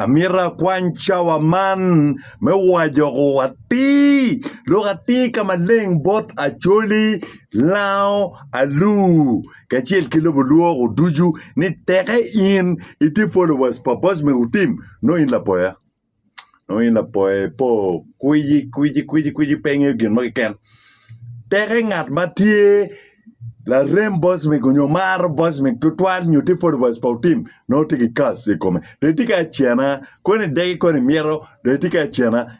Amito akwany cawa man me wajoko atir lok atir ka maleng bot Acholi, Lango, Alur kacel ki lobo lwok-gu ducu ni teke in itye followers pa Bosman Otim nongo in lapoya. nongo in lapoya ipo kwici kwici kwici kwici pe ingeyo gin mo keken teke ngat ma tye larem bocmic nyo maro bocmic tutwal nyo tye followers pa otim nongo tye ki kas i kome dong itye ka cena koni idegi koni imyero dong itye ka cena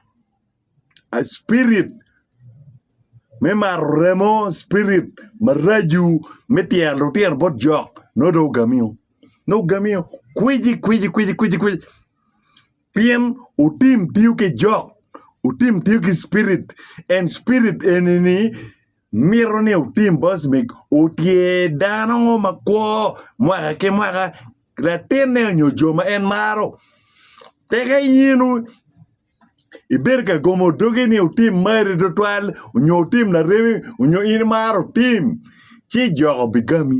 a spirit me maro remo spirit maraco me tyero lutino bot jok nongo dong ogamiyo nongo ogamiyo kwici kwici kwici kwici Pien wutim tiyo ki jok, wutim tiyo ki Spirit, en Spirit eni-ni mito ni wutim bot me otye dano mo ma kwo mwaka ki mwaka, latinne onyo jo ma en maro. Pe ka in ibedo ka gomo dogi ni wutim mari twatwal onyo wutim laremi onyo in imaro tim, ci jok obigami.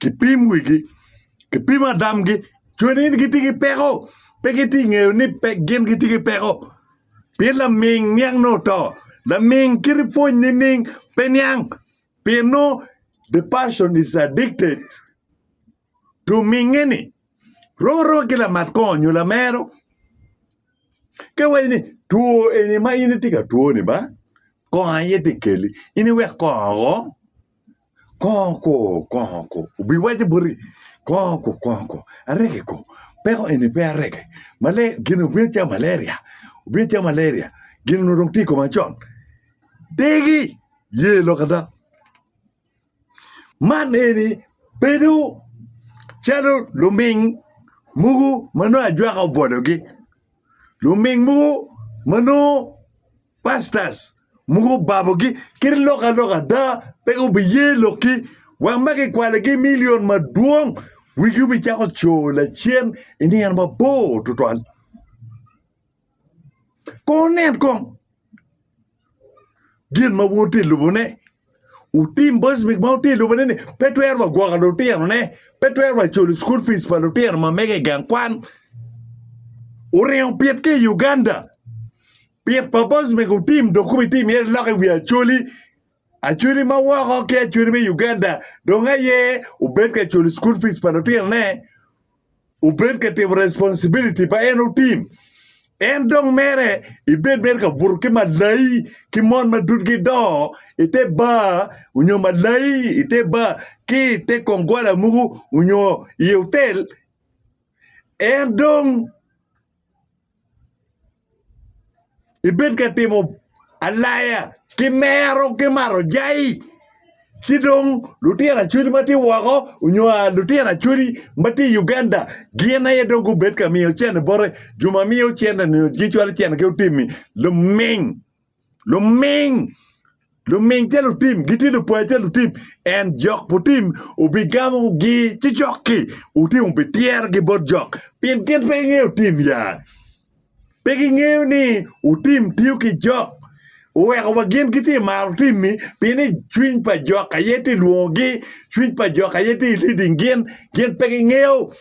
kipim wigi, kipim adamgi. Cone ni gitye ki peko, pe gitye ka ngeyo ni gin gitye ki peko pien laming niang ni oto. Laming kit ma pwony nining pe niang pien nongo the person is addicted to minge ni rom aroma ki lamat kongo nyo lamero ka iwaco ni two eni ma in itye ka twoni ba kongo aye tye ka keli in iwek kongo woko. Kongo ko, kongo ko, obiwaco boti, kongo ko, kongo ko, arege ko, peko eni pe arege, male, gin obino calo malaria, obino calo malaria, gin onongo dong tye i koma con, degi, ye lok ada, man eni bedo calo luming mogo ma nongo ajwaka obwologi, luming mogo ma nongo. Pastors mogo obabogi kit lok alok ada, pe gubiye lokgi. Wek ma kikwalogi milion madwong, wigi obicako coo lacen i nino mabor tutwal. Kong wunen kong gin ma wun wutye ka lubone. Wutim bot gin ma wutye ka lubone-ni, pe twero wa gwoko lutinone, pe twero wa culo cukul pic pa lutino ma mege i gang kwan. Wuringo pit ki i Uganda. Pi purpose me ku team dong kumi team myero ilok i wi Acholi, Acholi ma woko ki Acholi me Uganda dong aye obed ka culo school fees pa lutino ne, obed ka timo responsibility pa en oteam. En dong mere ibed mere ka buto ki malai ki mon ma dudgi dongo i te bar onyo malai i te bar ki i te kong gwala muku onyo i otel en dong ibed ka timo alaya ki mero ki mato jai ci dong lutino acholi ma tye woko nyo lutino acholi ma tye i Uganda gin aye dong gubed ka miyo cente bote jo ma miyo cente-ni cwalo cente ki otimmi luming. Luming luming ca lutim gitye lupar ca lutim, ent jok putim obigamogi ci jok-ki otim obityerogi bot jok, pien gin pe gingeyo tim ya. Pe gingeyo ni otim tiyo ki jok, oweko wa gin gitye maro tim-mi pien ni cwiny pa jok aye tye lwongogi, cwiny pa jok aye tye leading gin, gin pe gingeyo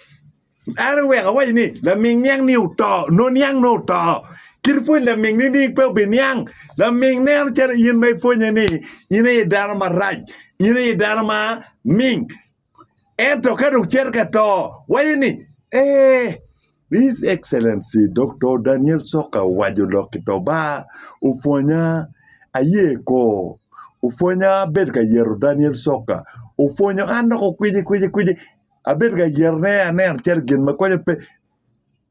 En oweko awaci ni, Laming niang-ni oto, nongo niang nongo oto. Kit pwony lamingni ni pe obiniang. Laming neno calo in ma ipwonye ni in aye dano marac, in aye dano ma ming. Ento ka dong cito ka to, waco ni, Ee, His Excellency Doktor Daniel Soka Owaco lok ki to ba, opwonya, aye ko. Opwonya abedo ka yero Daniel Soka. Opwonyo an dok okwicikwici. abedo ka yetone aneno calo gin ma konyo pe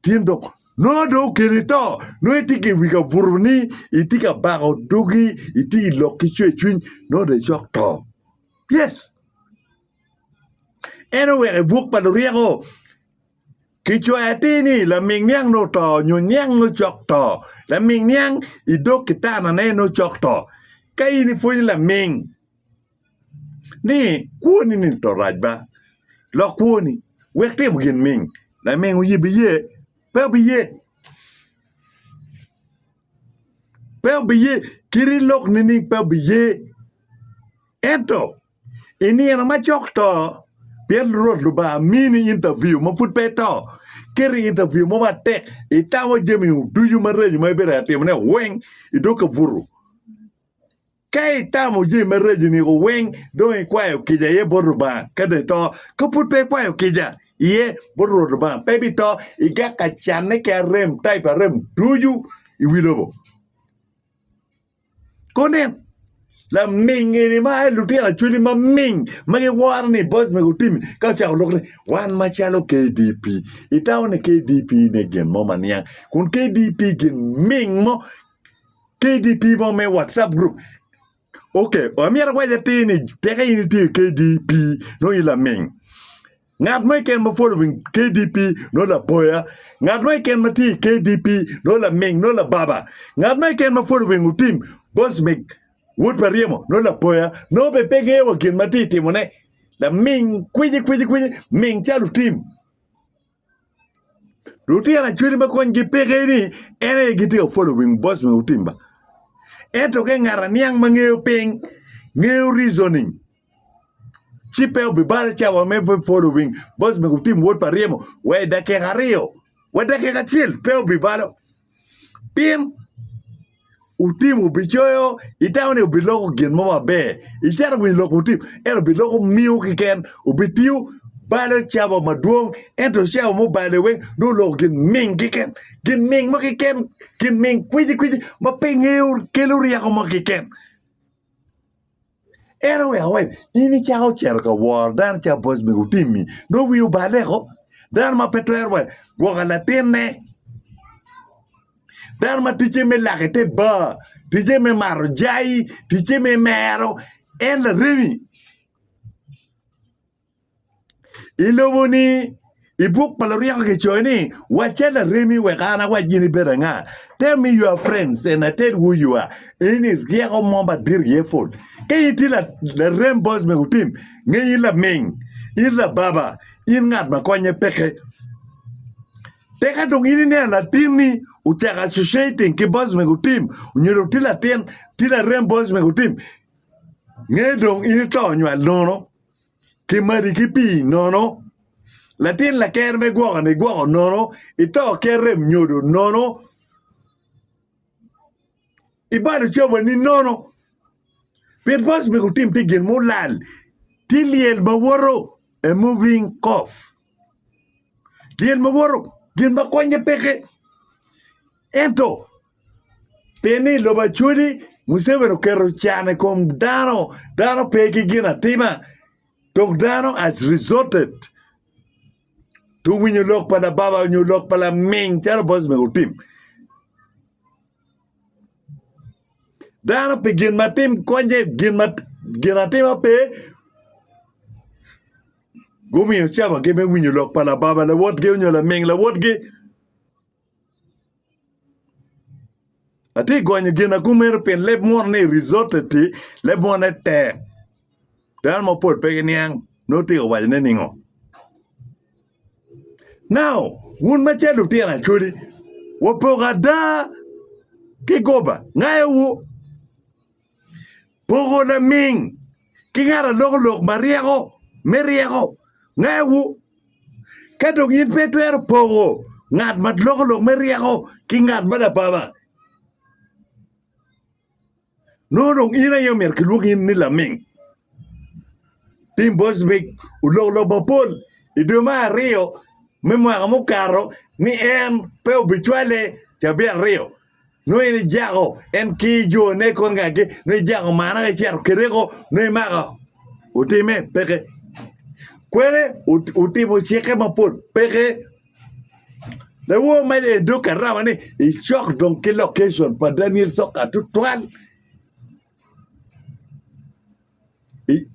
tin dok nongo dong okeni to nongo itye ki iwi kabuto ni itye ka bako dogi itye ki lok ki cwercwiny nongo dong icok to yes en oweko i buk pa luryeko kicwayo atir ni laming niang nongo oto nyo niang nongo cok to laming niang idog kitanane nongo cok to ka in ipwonyo laming ni kwoni-ni to rac ba, lok kwoni, wek timo gin ming. Laming oye biye? Pe obiye! Pe obiye! Kit ilok nining pe obiye? Ento i nino ma cok to, pien Rwot Lubanga mini intaviu ma pud pe ito, keti intaviu mo matek, itamo jami ducu mareco ma ibitwero timone weng, idok ka butu. Ka itamo jami maraco i niko weng, dong ikwayo kica iye bot Lubanga, ka dong ito. Ka pud pe ikwayo kica iye bot Rwot Lubanga, pe ibito. Igaka canne ki arem, type arem ducu i wi lobo. Kunen, laming eni ma aye lutino acholi maming ma giworo ni boys mego Timmy ka ocako lok ni, Wan macalo KDP, itamo ni KDP ne gin mo ma niang, kun KDP gin ming mo. KDP mo me WhatsApp group. Okay, amyero awac atir ni teka in itye i KDP nongo in laming. Ngat mo iken ma following KDP nongo lapoya. Ngat mo iken ma tye i KDP nongo laming nongo lababa. Ngat mo iken ma following otim boss me wod pa ryemo nongo lapoya. Nongo be pe ngeyo wa gin ma tye itimone. Laming kwiji kwiji kwiji ming calo otim. Lutino acwali ma konygi peke ni en aye gitye ka following boss me Mutimba ento ka ngat aniang ma ngeyo piny ngeyo reasoning ci pe obibalo ca wa me following boss me Mutimba wod pa ryemo wa i dakika aryo wa i dakika acel pe obibalo. pien wutimo bicoyo itamo ni biloko gin mo maber icito i wi lok wutim ento biloko miyo keken obitiyo balo cabo madwong ento cabo mubale weng nongo oloko gin ming keken gin ming mo keken gin ming kwici kwici ma pinge kelo ryeko mo keken En oweko ni, In icako cito ka woro dano cawa bot mego otimmi, nongo wiyi obaleko? Dano ma pe twero wa gwoko latinne, dano ma ticce me lak i te bar, ticce me mato jai, ticce me mero, en laremi? I lobo ni i buk pa Luriko kicoyo ni, Wacce laremi wek an awac gin ibed anga. Tell me your friends and I tell who you are. Eni ryeko mo madit iye pol. Ka in itye larem boc me otim, ngeny in laming, in lababa, in ngat ma konye peke. Teka dong in ineno latinni ocako associating ki boc me otim, nyo dong tye latin, tye larem boc me otim, nge dong in ito nywal nono. kimadi ki pii nono, latin laker me gwokoni gwoko nono, ito ker rem nyodo nono, ibalo cabani nono, pien paco me gutim tye gin mulal, tye lyel ma woto, a moving cough, lyel ma woto gin ma konye peke. Ento, pi ni i lobo Acholi, Museveni oketo can i kom dano, dano pe ki gin atima, dong dano has resorted to winyo lok pa lababa nyo lok pa laming calo Bosman otim. Dano pi gin ma tim konye, gin ma gin atima pe, gumiyo cabagi me winyo lok pa lababa lawotgi nyo laming lawotgi. Atye gonyo ginagu meno pien leb munu ni risote ti leb mune tek dano mapol pe giniang nongo itye ka wacone ningo. Nao wun macalo lutino acholi wapoko ada ki goba ngayowu. Poko laming ki ngat alokolok ma ryeko me ryeko ngawu. Ka dong in pe itwero poko ngat ma lokolok me ryeko ki ngat ma lababa, nongo dong in aye omyero kilwongi in ni laming. Tim Boswick olokolok mapol i dwe me aryo me mwaka mukato ni en pe obicwale cabit aryo. nongo in ijako en ki jone i kom ngagi, nongo ijako manna ka icito kede ko, nongo imako otime? Peke. Kwene otimo cikke mapol? Peke. Lawono ma i dog Karaba-ni icok dong ki lokeson pa Daniel Sokka tutwal.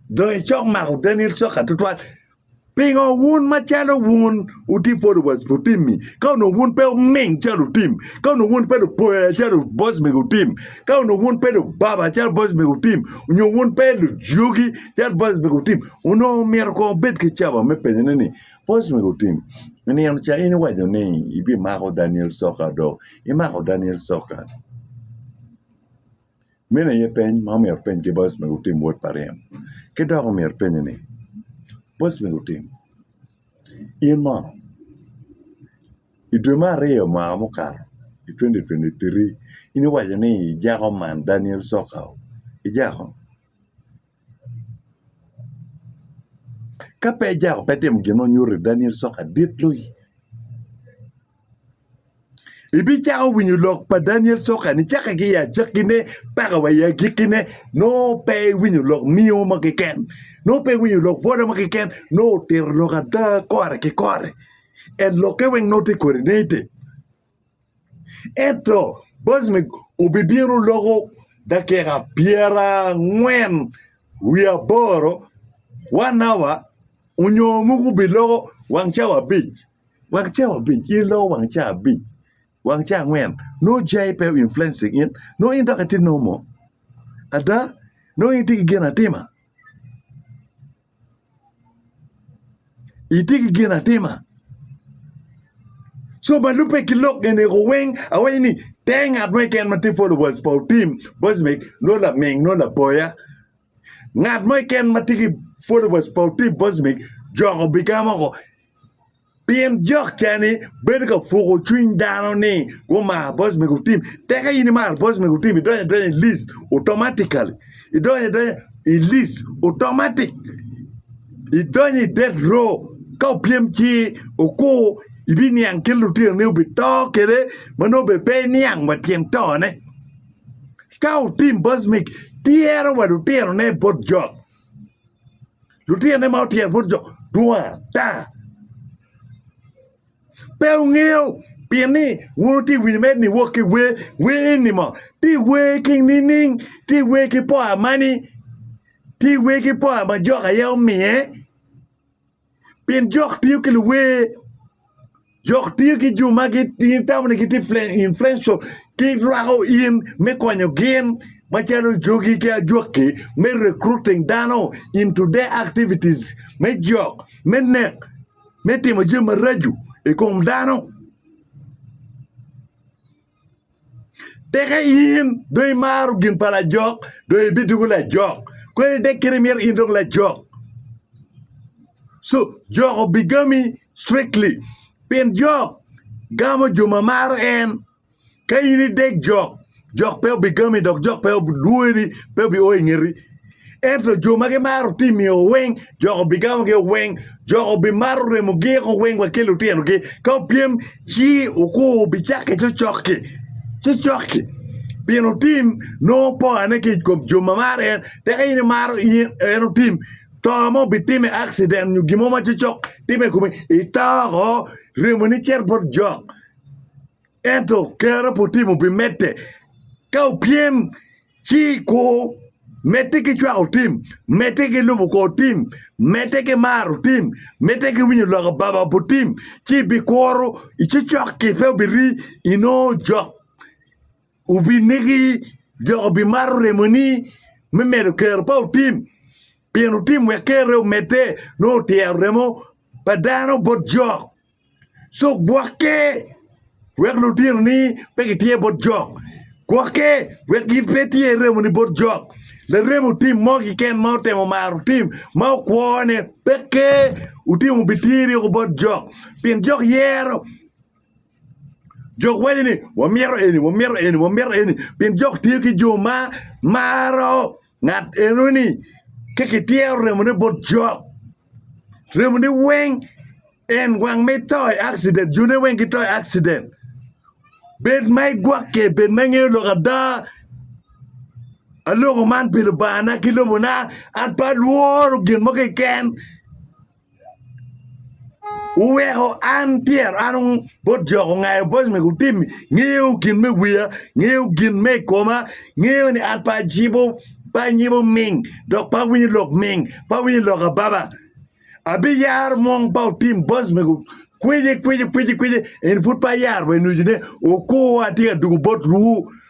Dong icok mako dani cok tutwal pingo wun macalo wun wutye followers pa otim-mi ka onongo wun pe wuming calo otim ka onongo wun pe lupoya calo boss mego otim ka onongo wun pe lubaba calo boss mego otim nyo wun pe lujugi calo boss mego otim onongo myero kong wubed ki cawa me penyone ni boss mego otim i nino ca in iwaco ni ibimako Daniel Sokka dong imako Daniel Sokka? Meno aye peny ma omyero wupeny kit ma Yecu omyero wutim wot pa ryem. Ki dok omyero ipenye ni, Yecu omyero otim, in mono i dwe me aryo mwaka mukato i twenty twenty three in iwaco ni ijako man Daniel Cokao, ijako? Ka pe ijako pe itimo gin ma onyuto ni Daniel Cokao dit loyi. Ibicako winyo lok pa Daniel Soka ni cakke ki i acakkine paka wa i agikkine nongo pe iwinyo lok nio mo keken, nongo pe iwinyo lok pwoda mo keken, nongo otito lok ada kore ki kore. En lokke weng nongo tye kodi nitti. Ento Bosmik obibino loko dakika pyerangwen wiye aboro, one hour, onyo muku obiloko wang cawa abic. wang ca abic in iloko wang ca abic wang ca angwen nongo jai pe o influence i gin nongo in dok itye normal ada nongo in itye ki ginatima itye ki ginatima co ma lubbe ki lok eni ko weng awaco ni te ngat mo keken ma tye followers pa otim bocmek nongo laming nongo lapoya Ngat mo keken ma tye ki followers pa Otim Bosmic jok obiga moko pien jok ca ni bedo ka puko cwiny dano ni gumar Bosmic Otim. Tek ka in imaro Bosmic Otim idonyo adonya i list automatically idonyo adonya i list automatic idonyo i death row ka opyem ci okur ibiniang kit lutinoni obito kwede ma nongo bene pe iniang wa tyen tone. Ka otim bocmic, tyero wa lutinone bot jo. Lutinone ma otyero bot jo dwong ata. Pe wungeyo pien ni wun wutye ka winyo mere ni wok ki wer, wer eni mo tye ka wer ki nining? Tye ka wer ki poo amani? Tye ka wer ki poo ma jok aye omiye? Pien jok tiyo ki luwer, jok tiyo ki jo ma gitamo ni gitye influential ki rwako in me konyo gin macalo jogi ki ajwaki me recruiting dano into their activities me jok, me nek, me timo jami maraco i kom dano. Tika in dong imaro gin pa lajok dong ibidoko lajok? Kwedo dek kit imito in dong lajok. So jok obigami strictly pien jok gamo jo ma maro en. Ka in idek jok, jok pe obigami dok jok pe lwori pe obio i ngeti. Ento jo ma gimaro timio weng, joko bigamogi o weng, joko bimaro remo gik o weng wa ki lutinogi. Ka opyem, ci okur bicakke cocok-ki, cocok-ki. Pien otim nongo pongane ki i kom jo ma maro en, teka in imaro in, en otim, to mo bitime, accident nyo gin mo ma cocok time i komi, ito oko, remoni cito bot jok. Ento kare pe otimo, bimedde. Ka opyem. Ci ikur, medde ki cwako tim, medde ki lubo kor tim, medde ki maro tim, medde ki winyo lok ababa bot tim, ci ibikuru, icocok-ki pe obiri, inongo jok obinegi, jok obimato remoni me medo kero pa otim, pien otim wek kerre omedde, nongo otyero remo pa dano bot jok. Cuk gwokke wek lutinoni pe gityer bot jok. Gwokke wek gin pe etyer remoni bot jok. Larem otim mo kiken ma otemo maro tim ma okwone peke otimo bityer yoko bot jok pien jok yero jok waco ni wamito eni wamito eni wamito eni pien jok tye ki jo ma maro Ngat enoni ka kityero remone bot Job, remone weng en wang ma ito i accident, jone weng gito i accident. Bed ma igwokke, bed ma ingeyo lok ada, aloko man pi Lubangana ki lobona, an pe alworo gin mo keken. Wuweko an pyero an bot jo ongayo bot mego tim ngeyo gin me wiya ngeyo gin me i koma ngeyo ni an pe ajibo pe anyibo ming dok pe awinyo lok ming pe awinyo lok ababa abiyaro mong ba otim bot mego kwece kwece kwece kwece eni pud pe ayaro wa inujune okur atye ka dwogo bot ruu